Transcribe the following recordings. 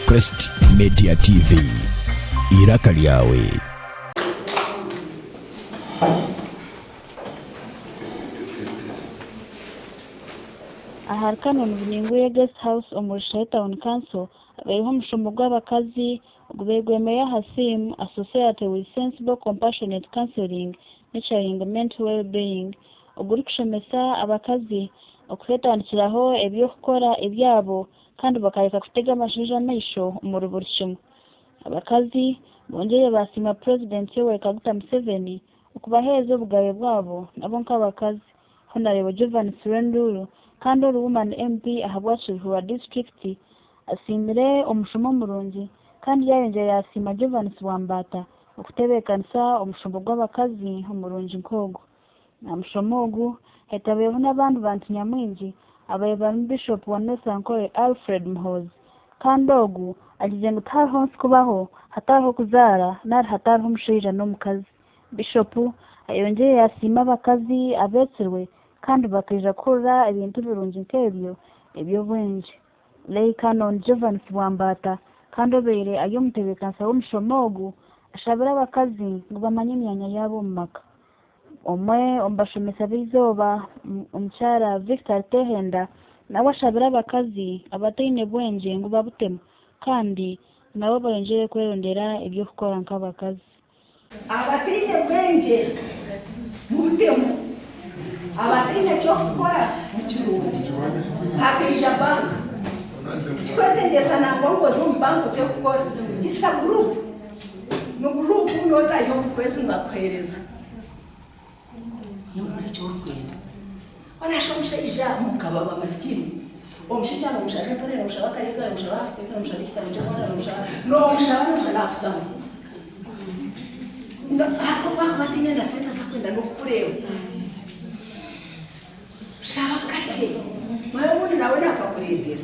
Crest Media TV, iraka lyawe. Ahari Canon Bunyinguye Guest House omu Rushahi Town Council habaireho omushomo gw'abakazi ogubairwemeyo aha theme, A Society with Sensible Compassionate Counselling, Nurturing Mental Wellbeing, ogurikushomesa abakazi okuteetandikiraho eby'okukora ebyabo kandi bakareka kutega abashaija amaisho omuri buri kimwe. Abakazi bongyeire baasiima Purezidenti Yoweri Kaguta Museveni okubaheereza obugabe bwabo nabo nk'abakazi, Honarebo Jovan Sirenduru kandi ori Woman MP ahabwa Kiruhura Disiturikiti asiimire omushomo murungi kandi yaayongyera yaasiima Jovanis Wambaata, Okutebeekanisa omushombo gw'abakazi omurungi nk'ogu. Aha mushomo ogu, hetabireho n'abandi bantu nyamwingi abari barimu Bishop wa North Ankole Alfred Muhoozi kandi ogu agizire ngu tihariho nsi kubaho hatariho kuzaara nari hatariho omushaija n'omukazi. Bishop ayongyire yasiima abakazi abeetsirwe kandi bakaija kuhurira ebintu birungi nk'ebyo eby'obwengye. Leigh Canon Jovan Sibwambata kandi obeire ari omutebeekanisa w'omushomo ogu ashabire abakazi ngu bamanye emyanya yaabo omu maka. Omwe omu bashomesa b'eizooba omukyara Victor Tehenda nawe ashabire abakazi abataine bwengye ngu babutemu kandi nabo bayongyere kwerondera eby'okukora nk'abakazi. Abataine bwengye mubutemu, abataine ky'okukora nikirungi. Hakaija bank. Tikikwetegyesa nangwa ngu oze omu bank oze kukora. It's a group. Ni group not ayi omukwezi ngu akuhereza. Nokora eki orikwenda. Orashusha omushaija mukaba wa masikini. Omushaija nomushaba empore, nomushaba akaleega, nomushaba half plate, nomushaba ekitabo ky'omwana, nomushaba, nomushaba, nomushaba nakutamu. Nga hati obu akuba ataine na sente atakwenda n'okukureeba. Shaba kakye. Manya obundi nawe nakakureetera.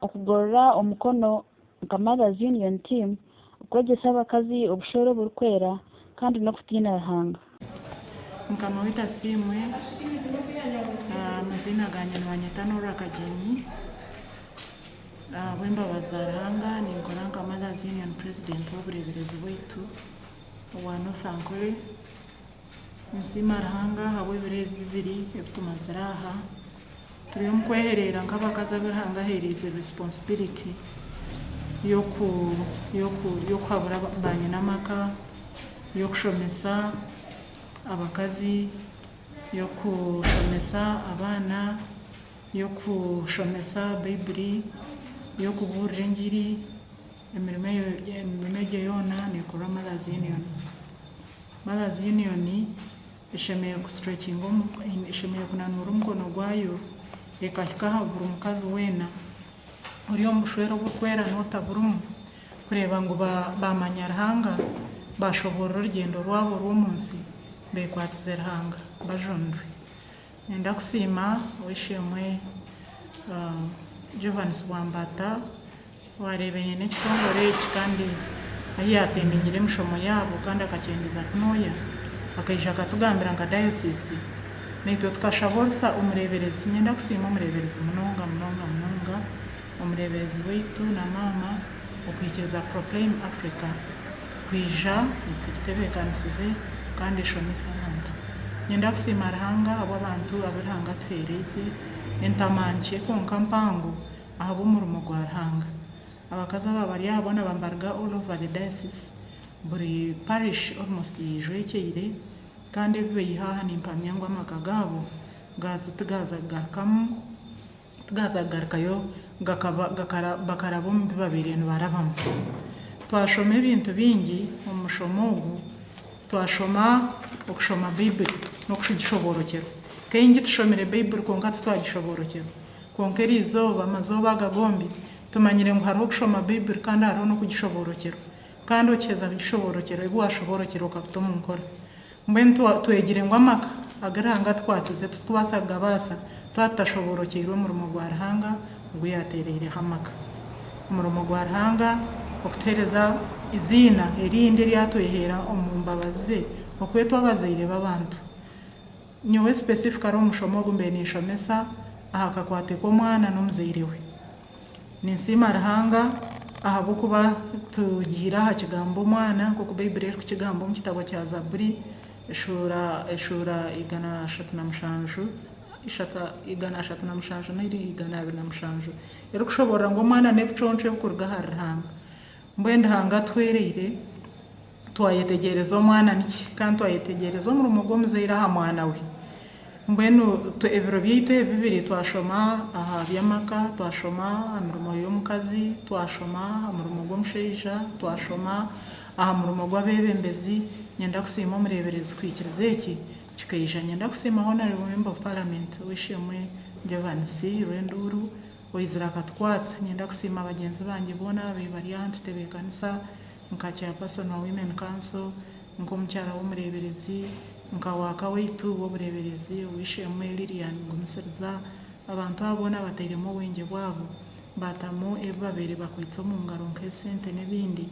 Okugorora omukono nka Mothers Union Team, okwegyesa abakazi obushwere oburikwera, kandi n'okutiina Ruhanga. Mukama waitu asiimwe, amaziina gangye nibanyeta Norah Kagyenyi, ahabw'embabazi za Ruhanga ninkora nka Mothers Union President w'obureeberezi bwaitu owa North Ankole. Ninsiima Ruhanga ahabw'ebiro ebi bibiri ebitumazire aha. Turi omu kwehereera nk'abakazi abu Ruhanga aheereize responsibility y'oku y'oku y'okuhabura baanyina amaka, y'okushomesa abakazi, y'okushomesa abaana, y'okushomesa Baibuli, y'okubuurira engiri, emirimo eyo emirimo egyo yoona neekorwa Mothers Union. Mothers Union eshemereire ku stretchinga eshemereire kunanuura omukono gwayo ekahika aha buri mukazi weena ori omu bushwere oburikwera n'otaburimu kureeba ngu baamanya Ruhanga, baashoboorora orugyendo rwabo rw'omu nsi beekwatize Ruhanga bajunirwe. Niinyenda kusiima Ow'eishe-emwe Johannes Bwambata Waareeba enyene ekitongore eki kandi ahi yaateeminyire emishomo yaabo kandi akakyendeeza kunooya, akaija akatugambira nka dayosiisi, naitwe tukashaba orusa omureeberezi. Niinyenda kusiima omureeberezi munonga munonga munonga, omureeberezi waitu na maama okuhikiiriza Proclaim Africa kwija etutebeekanisize kandi eshomese abantu. Niinyenda kusiima Ruhanga ahabw'abantu abu Ruhanga atuheereize, entama nkye kwonka mpango, ahabw'omurimo gwa Ruhanga. Abakazi aba bari aha boona bambaruga all over the diocese, buri parish almost yejwekyeire kandi ebi beiha aha nimpamya ngu amaka gaabo gaaza tigaaza kugarukamu tigaaza kugarukayo gakaba gakara bakaraba omu bi babaire nibarabamu. Twashoma ebintu bingi omu mushomo ogu, twashoma okushoma Baibuli n'okugishoboorokyerwa. Nk'ei ngitushomire Baibuli kwonka titwagishoboorokyerwa Kwonka eri izooba, amazooba aga gombi, tumanyire ngu hariho okushoma Baibuli kandi hariho n'okugishoboorokyerwa. Kandi okiheza kugishoboorokyerwa, ebi waashoboorokyerwa okabita omu nkora. Mbwenu twa, twegire ngu amaka agu Ruhanga atukwatize titukubaasa kugabaasa twaba tutashoboorokyeirwe omurimo gwa Ruhanga ogu yaateereireho amaka. Omurimo gwa Ruhanga okutuhereza eiziina erindi eri atweheera omu mbabazi ze, okwetwa abazaire b'abantu. Nyowe specifically omushomo ogu mbaire ninshomesa aha kakwate k'omwana n'omuzaire we. Ninsiima Ruhanga ahabw'okuba tugiire aha kigambo omwana nk'oku Baiburi erikukigamba omu kitabo kya Zaburi eshuura eshuura igana ashatu na mushanju ishatu igana ashatu na mushanju n'eri igana abiri na mushanju erikushoboorora ngu omwana n'ebiconco ebikuruga ahari Ruhanga. Mbwenu Ruhanga atuhwereire. Twayetegyereza omwana niki? Kandi twayetegyereza omurimo gw'omuzaire aha mwana we. Mbwenu ebiro byaitu ebi bibiri twashoma aha by'amaka, twashoma aha mirimo y'omukazi, twashoma aha murimo gw'omushaija, twashoma aha murimo gw'abeebembezi. Nyenda kusiima omureeberezi kuhikiriza eki kikaija. Nyenda kusiima Honourable Member of Parliament ow'eishe-emwe Jovan Sirwenduuru oizire akatukwatsa. Nyenda kusiima bagyenzi bangye boona ababaire bari aha ntutebeekanisa. nka Chairperson wa Women Council, nk'omukyara w'omureeberezi, nka Waaka waitu w'obureeberezi, Ow'eishe-emwe Lillian Gumisiriza, abantu abo boona batairemu obwengye bwabo, baatamu ebi babaire bakwaitse omu ngaro nk'esente n'ebindi,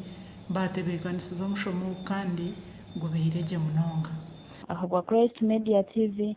baatebeekanisiza omushomo ogu kandi gubairegye munonga. Ahabwa Christ Media TV,